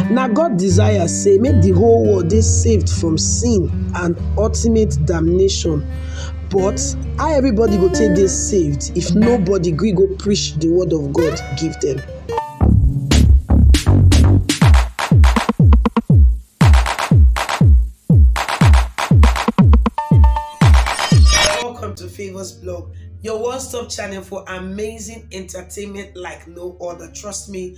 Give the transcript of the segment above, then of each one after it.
Na God desire sey make di whole world dey saved from sin and ultimate damnation but how everybody go take dey saved if nobody gree go preach di word of God give dem? Welcome to Favours Blog, your one-stop channel for amazing entertainment like no other. Trust me,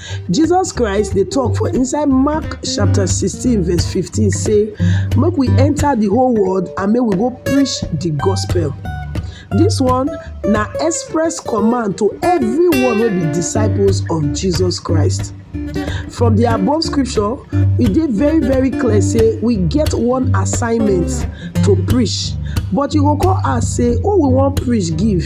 Jesus Christ dey talk for inside Mark chapter 16 verse 15 say make we enter the whole world and make we go preach the gospel. This one na express command to everyone wey be disciples of Jesus Christ. From the above scripture, e dey very very clear say we get one assignment to preach but you go come ask say who we wan preach give?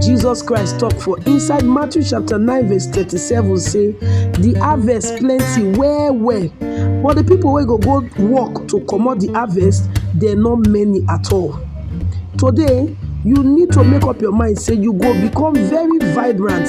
Jesus Christ talk for inside Matthew chapter 9 verse 37 say the harvest plenty well well but the people wey go go work to comot the harvest dem no many at all. Today you need to make up your mind say you go become very vibrant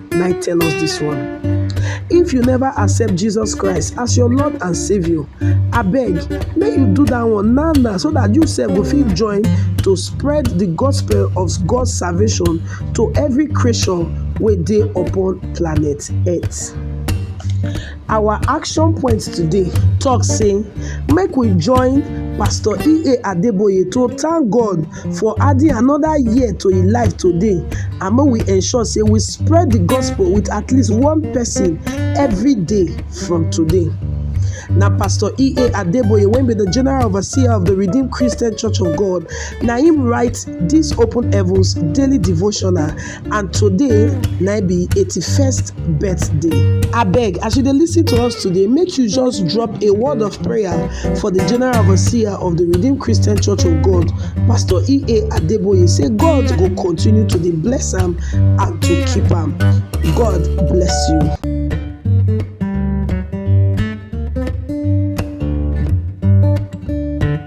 na I tell us this one. If you never accept Jesus Christ as your Lord and Savior, abeg make you do that one now now so that you sef go fit join to spread the gospel of God's salvation to every creation wey dey upon planet Earth. Our action point today talk say make we join Pastor E.A. Adeboye to thank God for adding another year to im life today and make we ensure say we spread the gospel with at least one person every day from today. na pastor ea adeboye wey be the general overseer of the redeemed christian church of god na him write this open heavens daily devotional and today na im be eighty first birthday. Abeg as you dey lis ten to us today make you just drop a word of prayer for the general overseer of the Redeemed Christian Church of God Pastor E.A. Adeboye say God go continue to dey bless am and to keep am. God bless you.